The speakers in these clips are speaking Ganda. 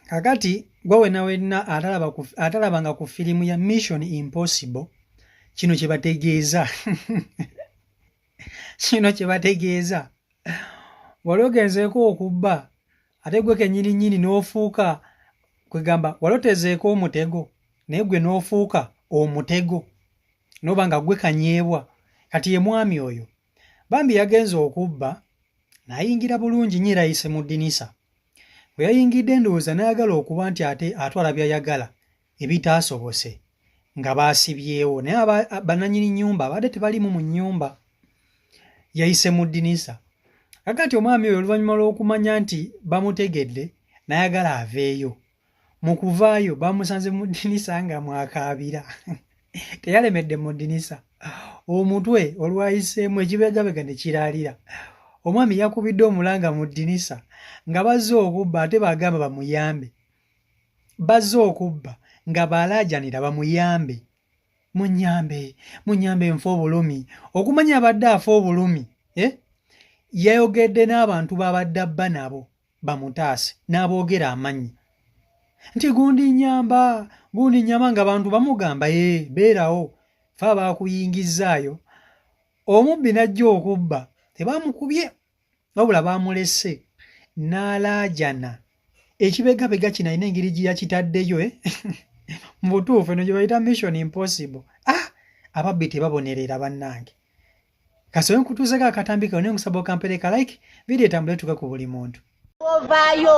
kakati gwe wena wena atalaba ku atalaba nga ku filimu ya mission impossible kino kye bategeeza kino kye bategeeza wali ogenzeeko okubba ate gwe kenyini nyini n'ofuuka kwegamba wali otezeeko omutego naye gwe n'ofuuka omutego noba nga gwe kanyeebwa kati ye mwami oyo Bambi yagenze okubba n'ayingira bulungi nnyo era yayise mu ddinisa. Bwe yayingidde ndowooza n'ayagala okuba nti ate atwala by'ayagala ebitaasobose nga baasibyewo naye bannannyini nnyumba abadde tebaliimu mu nnyumba yayise mu ddinisa. Aga nti omwami oyo oluvannyuma lw'okumanya nti bamutegedde n'ayagala aveeyo. mu kuvaayo bamusanze mu ddinisa nga mwakaabira teyalemedde mu ddinisa omutwe olwayiseemu ekibegabega ne kiraalira omwami yakubidde omulanga mu ddinisa nga bazze okubba ate bagamba bamuyambe bazze okubba nga baalaajanira bamuyambe munyambe munyambe nfa obulumi okumanya abadde afa obulumi eh? yayogedde n'abantu baabadde abba nabo bamutaase n'aboogera amanyi nti gundi nyamba gundi nyamba nga bantu bamugamba ye beerawo fe abaakuyingizzaayo omubbi n'ajja okubba tebamukubye wabula baamulese n'alaajana ekibegabega kino alina engeri gye yakitaddeyo eh? mu butuufu eno gye bayita mission impossible ah ababbi tebabonerera bannange kasobe nkutuuzeko akatambi kawe naye nkusaba okampere ka like vidiyo etambule etuuke ku buli muntu ovaayo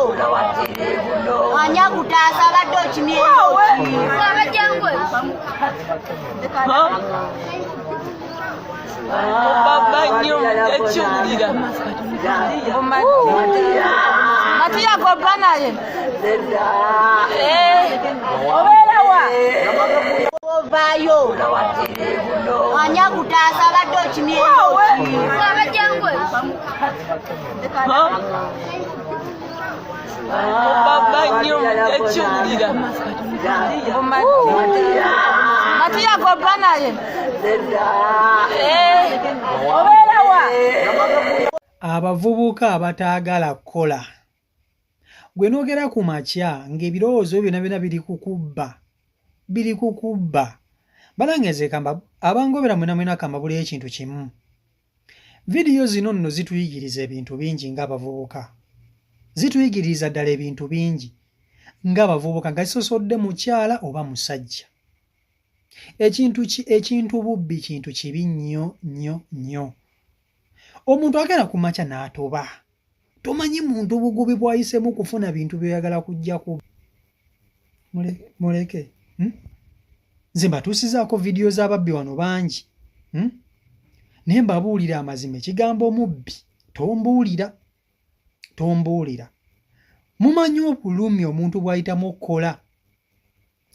ani akutaasa abadde okimyebaba nyo ekiwulira matuyagobba naye ovaayo ani akutaasa abadde okimyebaba nyo ekiwulira matuyako ba naye obeerawa abavubuka abataagala kukola gwe nogera ku makya ng'ebirowoozo byona byona biri kukubba biri kukubba balangezeekamba abangobera mwena mwena kambabuleyo ekintu kimu vidiyo zino nno zituyigiriza ebintu bingi ng'abavubuka zituyigiriza ddala ebintu bingi ng'abavubuka nga zisosodde mukyala oba musajja ekintu ki ekintu bubbi kintu kibi nnyo nnyo nnyo omuntu agenda ku makya n'atoba tomanyi muntu bugubi bwayisemu kufuna bintu byoyagala kujja ku muleke hmm? nze mbatuusizaako vidiyo z'ababbi wano bangi hmm? naye mbabuulira amazima ekigambo omubbi tombuulira tombuulira mumanyi obulumi omuntu bwayitamu okukola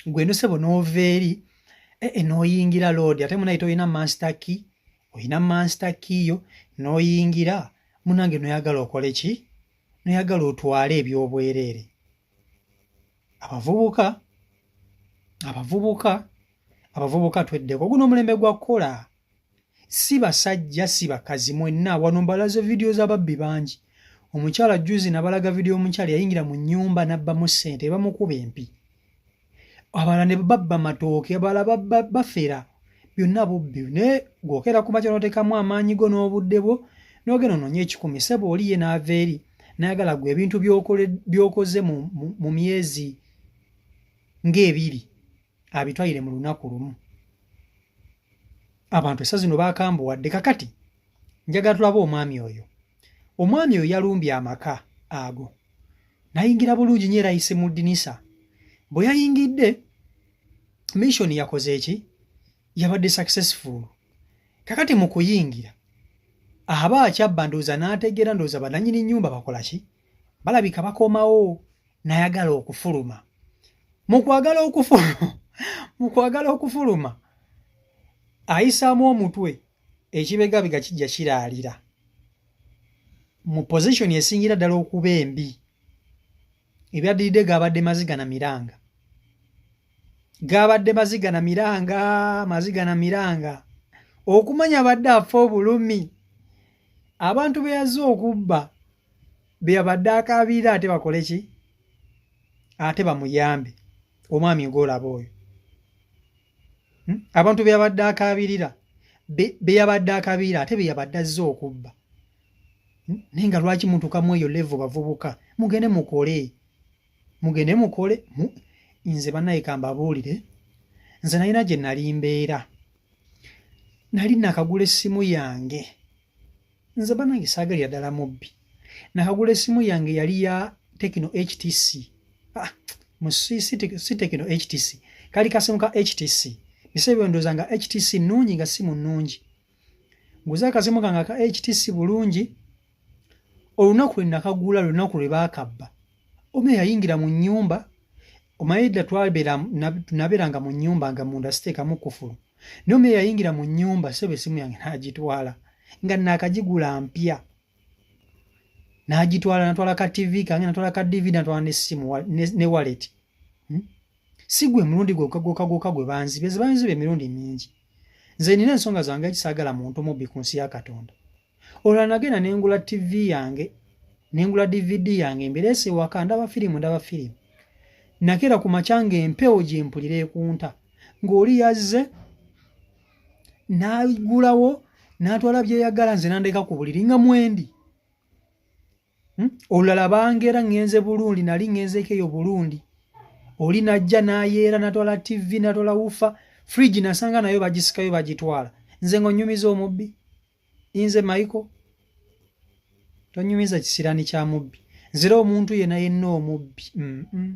gwe nosebo nova eri e, e, noyingira lodi ate munaye tolina master key olina master key yo noyingira munange noyagala okole ki noyagala otwale ebyobwereere abavubuka abavubuka abavubuka tweddeko guno omulembe gwa kukola si basajja si bakazi mwenna wano mbalaze vidiyo z'ababbi bangi omukyala juzi nabalaga vidiyo omukyala yayingira mu nyumba nabbamu ssente bamukuba empi abala ne babba matooke abala bafera byonna bubbi naye gwokera ku makya notekamu amaanyi go n'obudde bwo nogenda ononye ekikumi sebo oli ye naava eri nayagala gwe ebintu byokoze mu myezi ng'ebiri abitwalire mu lunaku lumu abantu esa zino bakambuwadde kakati njagala tulaba omwami oyo omwami oyo yalumbye amaka ago nayingira bulungi nyo era yise mu dinisa bwe yayingidde mission yakoze eki yabadde successful kakati mu kuyingira aba akyabba ndowooza n'ategeera ndowooza bananyini nnyumba bakola ki balabika bakomawo nayagala okufuluma mukwagala okufuluma mukwagala okufuluma ayisaamu omutwe ekibegabiga kijja kiraalira mu position esingira ddala okuba embi ebyaddiridde gaabadde maziga na miranga gaabadde maziga na miranga maziga na miranga okumanya abadde afa obulumi abantu beyazze okubba beyabadde akabiira ate bakole ki ate bamuyambe omwami ngolaba oyo hmm? abantu beyabadde akabirira beyabadde akabiira ate beyabadde azze okubba hmm? naye nga lwaki mutukamu eyo levo bavubuka mugende mukole mugende mukole nze banaye kambabuulire nze nalina gye nali mbeera nali nakagula essimu yange nze banange saagalira ddala mubbi nakagula esimu yange yali ya tekino htc ah, si tekino htc kali kasimu ka htc bisebyondoza nga htc nungi nga simu nungi nguze akasimu kange aka htc bulungi olunaku lwe nakagula lunaku lwe bakabba omu eyayingira mu nyumba omayedda twabeera nabeeranga mu nyumba nga munda siteekamu kufulu naye omu eyayingira mu nyumba sebo esimu yange nagitwala nga nakagigula mpya nagitwala natwala ka tv kange natwala ka dvd natwala nesimu ne wallet hmm? sigwe mulundi gwekagokagwoka gwe banzibe zibanziba emirundi mingi nze nina ensonga zange ekisagala muntu mubbi ku nsi ya katonda olwa nagenda ne ngula ttivi yange ne ngula dvd yange mbireese ewaka ndaba firimu ndaba firimu nakeera ku makya ng'empewo gye mpulira ekunta ng'oli yazze n'agulawo n'atwala byeyagala nze nandeka ku buliri nga mwendi hmm? olulala bangeera ŋŋenze bulundi nali ŋŋenzeeko eyo bulundi oli najja n'ayeera natwala tv natwala wufa fridge nasanga nayo bagisikayo bagitwala nze ng'onyumiza omubbi inze maiko tonyumiza kisirani kya mubbi nzira omuntu yena yenna omubbi mm -mm.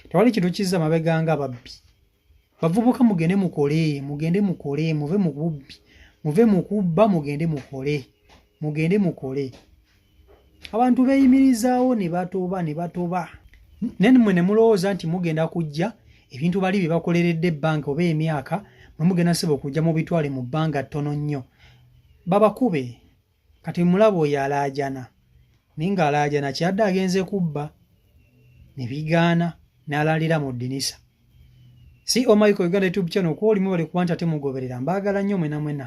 tewali kintu kizza mabeganga ababbi bavubuka mugende mukole mugende mukole muve mukubbi muve mukubba mugende mukole mugende mukole abantu beeyimirizaawo ne batoba ne batoba naye mmwe ne mulowooza nti mugenda kujja ebintu bali bye bakoleredde ebbanga oba emyaka mwe mugenda seba okujja mu bitwale mu bbanga ttono nnyo babakube kati mulaba oyo alaajana naye ng'alaajana kyadde agenze kubba ne bigaana n'alaalira mu ddinisa si omaiko oh uganda youtube channel kwolimu bali kuba nti ate mugoberera mbaagala nnyo mwena mwena